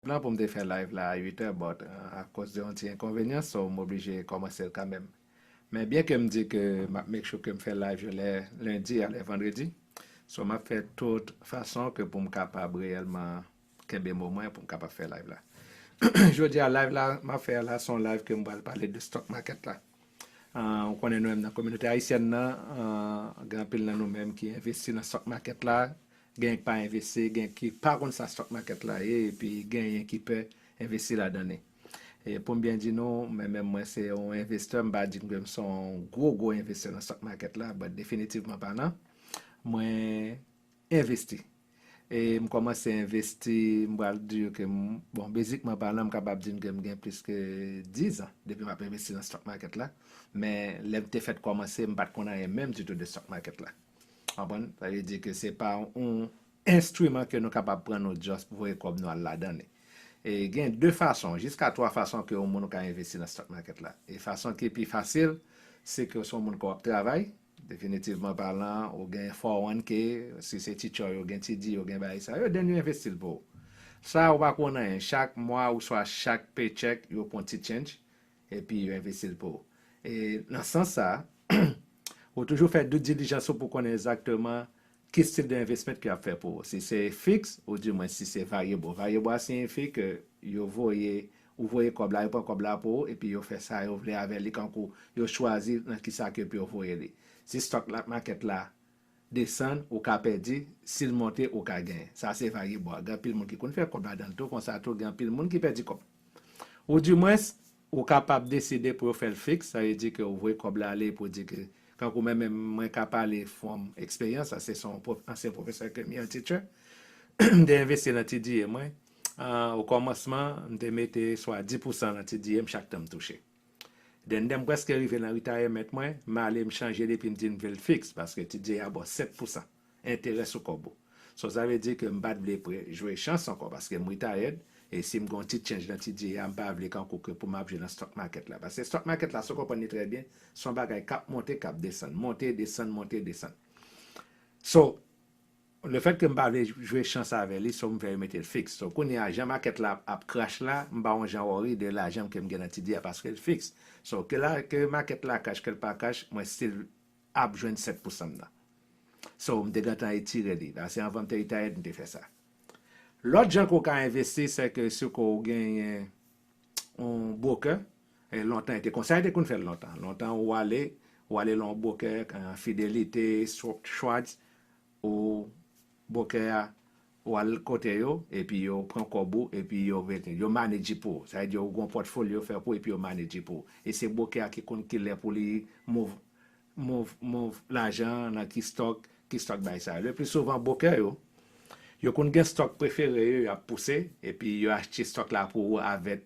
Plan pou m te fè live la a 8 è but akoz de yon ti enkonvenyan so m oblije kòmanse l kanmenm. Men byen ke m di ke m ap make sure ke m fè live yo lè lundi a lè vendredi so m ap fè tout fason ke pou m kapab reyèlman kenbe mo mwen pou m kapab fè live la. Jodi a live la m ap fè a la se yon live ke m pral pale de stock market la. Ou konnen nou menm nan kominote ayisyèn nan gen anpil nan nou menm ki envesti nan stock market la Genyen k pa envesti, genyen ki pa konn sa stock market la ye epi genyen ki pè envesti ladan li. E poum byen di nou, mwen menm mwen se yon envestè, m pa di m ke m se yon gwo gwo envestè nan stock market la, but definitivman palan, mwen envesti. E m kòmanse envesti, m pral di ou ke m, bon bezikman palan m kapab di n ke m gen plis ke 10 zan depi m ap envesti nan stock market la, men lè m te fèt kòmanse m pat konn anyen menm ditou de stock market la. Konprann? Sa vle di ke se pa yon enstriman ke nou kapab pran nou just voye kòb nou al ladan li. E gen 2 fason, jiska 3 fason ke yon moun ou ka envesti nan stock market la. E fason ki pi fasil, se ke ou se yon moun ke wap travay, definitivman palan, ou gen 401k, si se ti tchoy ou gen ti di ou gen bagay sa yo, then yo envesti l pou ou. Sa ou pa ko nan yen, chak mwa ouswa chak paycheck yo pran ti change, Epi yo envesti l pou ou. E nan sans sa a, ou toujou fè due diligence ou pou konnen exactement ki style de investment ke y ap fè pou ou. Si se fix, ou di mwen si se variable. Variable a siyifi ke yo voye, ou voye kòb la, yo pran kòb la pou ou, epi yo fè sa yo vle avè li kankou yo chwazi nan kisa ke pou yo voye li. Si stock la, market la desann ou ka pèdi, si l monte ou ka genyen. Sa se vagebon an. Gen anpil moun ki konn fè kòb ladan l tou, konsa tou gen anpil moun ki pèdi kòb. Ou di mwens, ou kapab deside pou yo fè l fiks, sa vle di ke ou voye kòb la ale epi ou di ke, tankou mwen menm, mwen ka pale from eksperyans, sa se son pwof, ansyen pwofesè ke m ye, yon teacher, m te envesti lan TDA mwen, o kòmansman, m te mete swa di pousan lan TDA m chak tan m touche. Dendem preske rive nan retire met mwen male m chanje li epi m di m vle l fix paske ti dye a baw 7 pousan enterè sou kòb ou so sa vle di ke m pat vle pre jwe chans ankò paske m retired e si m gon ti change nan ti dye a m pa vle kankou ke pou m ap jwe nan stock market la paske stock market la si w konprann li trè byen son bagay kap monte kap desann monte desann monte desann so Le fait ke m pa vle jwe chans avè li so m fè yo mete l fiks. So kounye a jan makèt la ap crash la m pa on jan worry de lajan m ke m gen nan TD a paske l fiks. So ke la ke makèt la crash ke l pa crash mwen still ap jwenn 7 pou san m nan. So m te gentan etire li. Pase anvan m te retired m te fè sa. Lòt jan ke w ka envesti se ke si ke w genyen on broker e lontan e te konsa yo te konn fè l lontan. Lontan ou ale ou ale lan on broker, Fidelite, Schwartz, Ou bokè a ou al kote yo epi yo pran kòb ou epi yo mete yo manedji pou ou sa vle di ou gon pòtfoli yo fè pou epi yo manedji pou ou e se bokè a ki konn kilè pou li move move move lajan an nan ki stòk ki stòk bagay sa yo le pli souvan bokè yo yo konn gen stòk prefere yo yap pouse epi yo achte stòk la pou ou avèt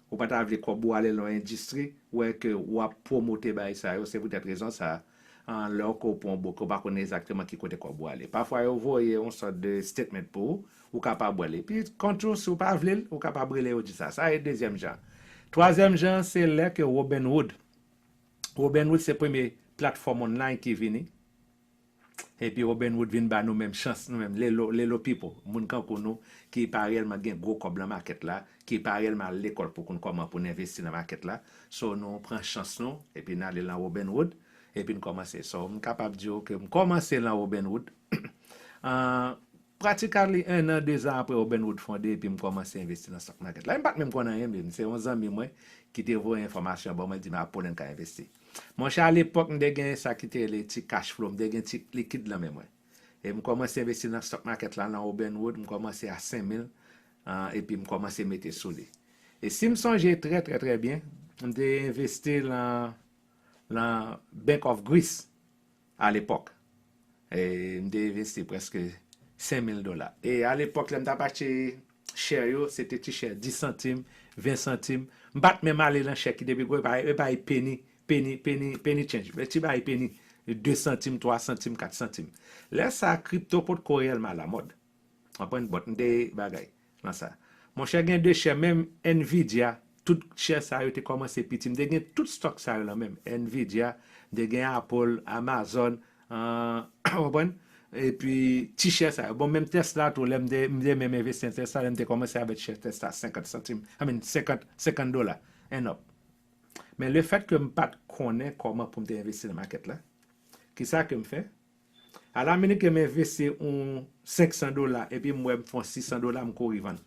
Ou pa ta vle kòb ou ale lan yon endistri, wè ke ou ap pwomote bagay sa yo, se poutèt rezon sa a, lè ou ke ou pran yon bouke, ou pa konnen egzakteman ki kote kòb ou ale. Pafwa yo voye yon sòt de statement pou ou, ou kapab wè l. Epi, kont tou, si ou pa vle l, ou kapab rele yo di sa. Sa e dezyèm jan an. Twazyèm jan an, se lè ke Robinhood, Robinhood se premye platfòm online ki vini, Epi Robin Hood vin ba nou menm chans nou menm lelo lelo people moun kankou nou ki pa reyèlman gen gwo kòb lan makèt la, ki pa reyèlman al lekòl pou konn kòman pou n envesti lan makèt la, so nou pran chans nou epi n ale lan Robin Hood epi n kòmanse. So m kapab di w ke m kòmanse lan Robin Hood an pratikali 1 an 2 zan apre Robin Hood fonde epi m kòmanse envesti lan stock market la. E m pat menm konn anyen min se yon zanmi mwen ki te voye enfòmasyon an ba mwen li di m a Poland ka envesti. Monchè a lepòk m te gen sa ki te rele ti cash flow, m te gen ti likid lan men mwen. E m kòmanse envesti nan stock market la lan Auburn Road, m kòmanse a 5000 epi m kòmanse mete sou li. E si m sonje trè trè trè byen, m te envesti lan lan Bank of Greece. Alepòk, e, m te envesti prèske sen mil dola. E, alepòk, lè m t ap achte share yo, se te ti share, dis santim, ven santim. M pa t menm ale nan share ki te pi gwo, e bay penny, penny, penny, penny change, ti bay penny, de santim, twa santim, kat santim. Lè sa a, kripto potko reyèlman alamòd. Konprann? Bòt m te bagay. Nan sa. Monchè gen 2 chè menm Nvidia tout chè sa yo te kòmanse piti m te gen tout stock sa yo nan menm Nvidia m te gen Apple Amazon ou konprann epi ti chè sa yo bon menm Tesla tou lèm te m te menm envesti nan Tesla lèm te kòmanse avèk chè Tesla 50 santim I mean 50 50 dola and up men lefèt ke m pat konnen kòman poum te envesti nan market la kisa kem fè A la meniken m envesti yon 500 dola epi m wè m fè yon 600 dola m kouri vann.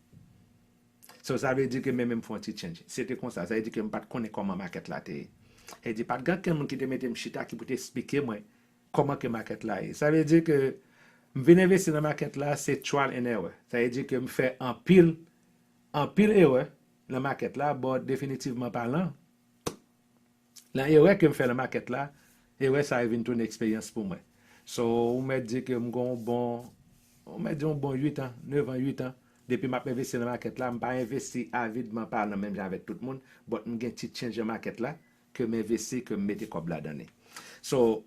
So sa vle di ke men men m fè yon ti change. Se te konsa. Sa vle di ke m pa t konnen kòman makèt la te ye. Sa vle di pa t gen okenn moun ki te mete m chita ki pou te esplike mwen kòman ke makèt la ye. Sa vle di ke m vin envesti nan makèt la se trial and error. Sa vle di ke m fè anpil, anpil erè nan makèt la but definitivman palan, Nan erè ke m fè nan makèt la, erè sa yo vin tounen eksperyans pou mwen. So, ou mèt di ke m gen yon bon, ou mèt di yon bon 8 an, 9 an, 8 an, depi m ap envesti nan makèt la. M pa envesti avidman, pa nan menm jan avèk tout moun, but m gen ti tchenj nan makèt la ke m envesti, ke m mete kòb ladan li. So,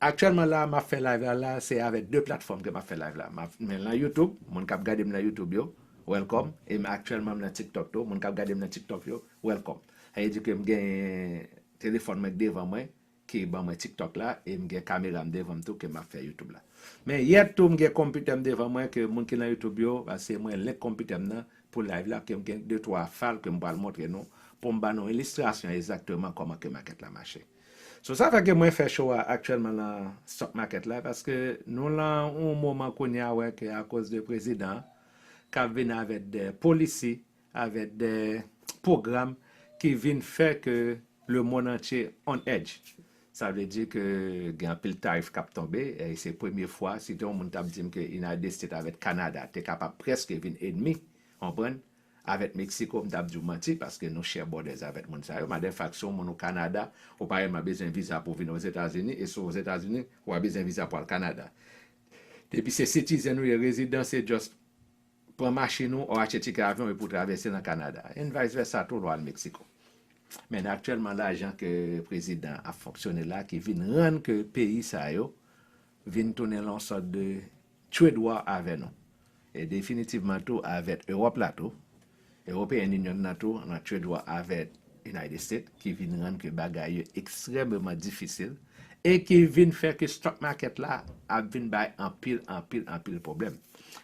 Aktyèlman la map fè live la la se avèk 2 platfòm ke map fè live la map men lan youtube moun kap gadem lan youtube yo welcome e m aktyèlman m lan tiktok tou moun kap gadem lan tiktok yo welcome sa vle di ke m gen telefòn mwen k devan mwen ki ban mwen tiktok la e m gen kameram devanm tou ke map fè youtube la men yèt tou m gen konpitèm devan mwen ke moun ki lan youtube yo pase mwen link konpitèm nan pou live la ke m gen de twa fal ke m pwal montre nou poum ba nou ilistrasyon ezakteman kòman ke makèt la mache. So sa fè ke mwen fè show a aktyèlman lan stock market la paske nou lan yon moman kounye a wè ke akoz de prezidan kap vin avèk de policy avèk de program ki vin fè ke le mond antye on edge sa vle di ke gen anpil tarif kap tonbe e se premye fwa si te yon moun tap dim ke United States avèk Canada te kapab preske vin enmi konprann Avèk Mexico m tap diw manti paske nou share borders avèk moun sa yo. Madefak si yon moun ou Canada ou pa rèlman bezwen viza pou vin Ozetazini e si w Ozetazini ou pa bezwen viza pou al Canada. Depi se citizen ou ye, rezidan se just pran machin ou or achte ticket avion epi w travèse nan Canada. And vice versa tou lè w al Mexico. Men aktyèlman la jan ke prezidan ap fonksyone la ki vin rann ke peyi sa yo vin tounen lan yon sort de Trade war avè nou. E definitivman tou avèt Ewòp la tou. European Union nan tou nan trade war avèt United States ki vin rann ke bagay yo ekstrèmeman difisil e ki vin fè ke stock market la ap vin bay anpil, anpil, anpil pwoblèm.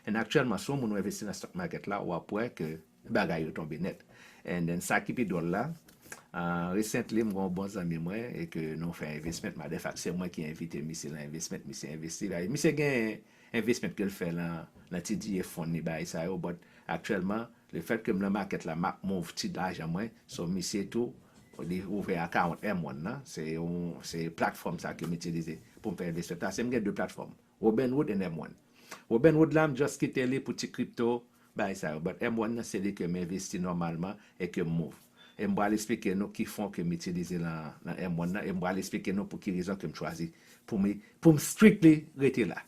And aktyèlman si yon moun ou envesti nan stock market la wap wè ke Bagay yo tonbe nèt. And then sa ki pi dwòl la, recently m gen yon bon zanmi mwen e ke nou fè investment, matter fact se mwen ki envite misye lan investment, misye envesti la, misye gen investment ke l fè lan ti diye fon li bagay sa yo, but aktyèlman le fèt ke m lan market la m ap move ti lajan mwen, so misye tou li ouvè account M one lan, se yon se platform sa ke m itilize pou m fè investment la, se m gen 2 platform. Robin Hood and M-one Robin Hood la m just kite li pou ti crypto bagay sa yo but M-one nan se li ke m envesti nòmalman e ke m move e m pral esplike nou ki fon ke m itilize lan lan M-one nan e m pral esplike nou pou ki rezon ke m chwazi pou m pou m strictly rete la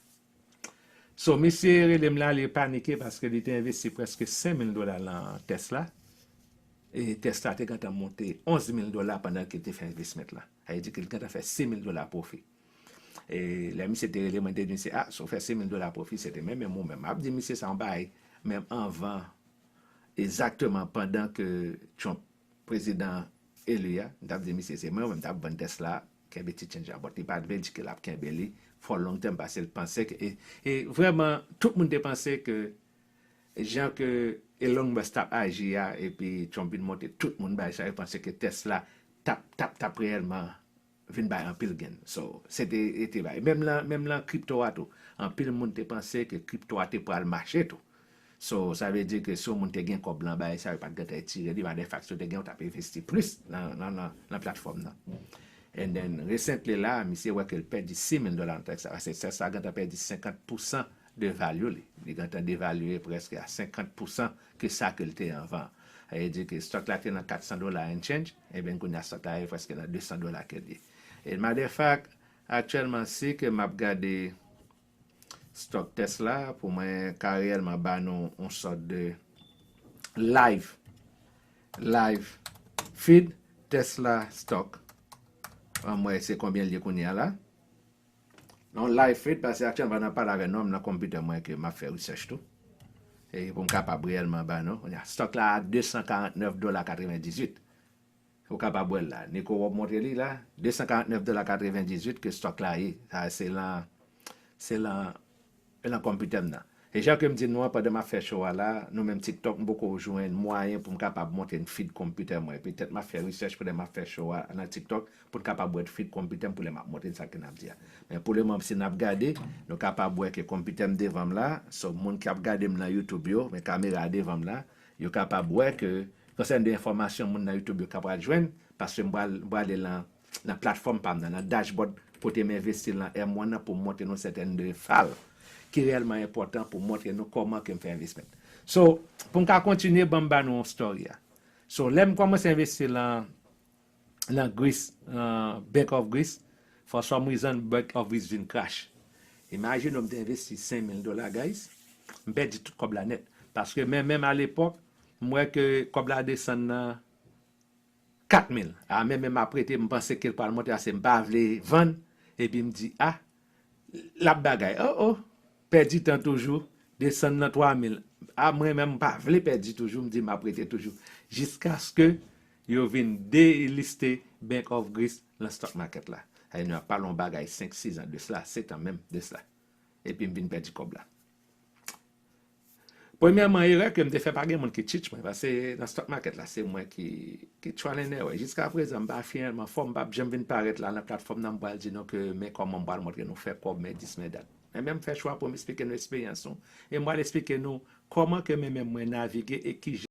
so misye rele m la li panike paske li te envesti preske 5000 dola lan Tesla e Tesla te gentan monte 11000 dola pandan ke l te fè envesment lan sa vle di ke l gentan fè 6000 dola profit. E lè misye te rele mwen te di misye, ah si w fè 6000 dola pwofi se te menm menm ou menm. Map di misye sa yon bagay menm anvan egzakteman pandan ke Trump prezidan eli a, m tap di misye se mwen ou menm m tap vann Tesla a, kenbe ti change la bòt li pat vle l di ke lap kenbe li for long term paske l panse ke e vrèman tout moun te panse ke jan ke Elon Musk tap aji a epi Trump vin monte tout moun bay sa yo panse ke Tesla tap tap tap reyèlman vin bay anpil gain so se te te bay menm lan menm lan crypto a tou anpil moun te panse ke crypto a te pral mache tou so sa vle di ke si yon moun te gen kòb lan bay sa yo pat gentan etire li matter fact yo te gen yo tap envesti plis lan lan lan platform nan and then recently la misye wè kel pèdi 6000 dola nan tèks sa pase tèks sa gentan pèdi 50 pousan de value li li gentan devalye preske a 50 pousan ke sa ke l te anvan. Sa vle di ke stock la te nan 400 dola and change, eben kounye a stock la ye preske nan 200 dola ke l ye. As matter of fact, aktyèlman si ke m ap gade stock Tesla pou mwen ka reyèlman ba nou yon sort de live, live feed Tesla stock, anmwey se konbyen l ye kounye a la. Non live fluid pase ak canva nan pale avè nom nan computer mwen ke map fè research tou e poum kapab reyèlman ba nou kounye a stock la a 249 dola 98 ou kapab wèl la Nico wap montre li la 249 dola 98 ke stock la ye sa se lan se lan E nan konpitè m nan. E jan ke m di nou an pandan m ap fè show a la, nou menm TikTok m poko jwenn mwayen pou m kapab monte n feed konpitè mwen. Petèt m ap fè research pou lè m ap fè show a nan TikTok pou n kapab wè feed konpitè m pou lè m ap monte n sa ke n ap di a. Men pou le moman si n ap gade, nou kapab wè ke konpitè m devan m la, so moun ki ap gade m nan YouTube yo, men kamera a devan m la, yo kapab wè ke konsèn de enfòmasyon moun nan YouTube yo ka pral jwenn, paske m pral, m prale lan Nan platfòm pa m nan, nan dashboard kote m envesti l nan M1 nan pou m montre nou sèten de fal ki reyèlman enpòtan pou montre nou kòman ke m fè envesment. So, pou m ka kontinye ban m ba nou story a. So, lè m kòmanse envesti lan nan Greece, lan Bank of Greece, for some reason Bank of Greece vin crash. Imagine ou m te envesti 5000 dola guys, m pèdi tout kòb la nèt. Paske men menm a lepòk, m wè ke kòb la desann nan 4000 ah men menm ap rete m panse kel pral monte ase m pa vle vann epi m di ah lap bagay oh oh pèdi tan toujou desann nan 3000 ah mwen menm m pa vle pèdi toujou m di map rete toujou jiskaske yo vin deliste bank of greece lan stock market la sa vle di nou ap pale yon bagay 5 6 ans de cela 7 ans menm de cela epi m vin pèdi kòb la. Premyèman erè ke m te fè pa gen moun ki teach mwen paske nan stock market la se mwen ki trial and error jiska prezan m pa finalman fò m pap janm vin parèt la nan platfòm nan m pral di nou ke men kòman m pral montre nou fè kòb men dis men dat men men m fè chwa pou m esplike nou eksperyans nou e m pral esplike nou kòman ke men men mwen navige e kijan